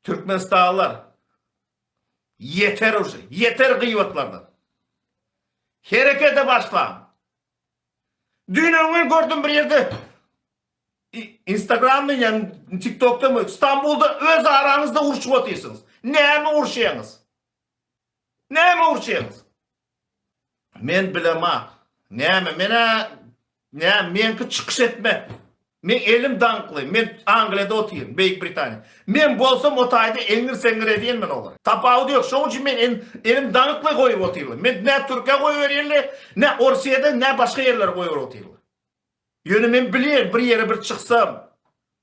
Türkmenistanlylar ýeter uje, ýeter gyýwatlardan. Herekete başlaň. Düýn-öňňin gün gördüm bir ýerde Instagramda ýa TikTokda mı Stambulda öz araňyzda urşup otyrsyňyz. Näme urşýaňyz? Näme urşýaňyz? Men bilema näme men-ä nä meňki çykyş etmek. Meň elim daňkly, men Angliýada otyryn, Beýik Britaniýa. Men bolsam o taýda eňňir-seňňir edýän men olary. Tapawudy ýok, şoň üçin men elim daňkly goýup otyryn. Men nä Türkiýä goýberýärler, nä Orsiýada, nä başga ýerlere goýberyp otyrlar. Ýöne men bilýän bir ýere bir çyksam,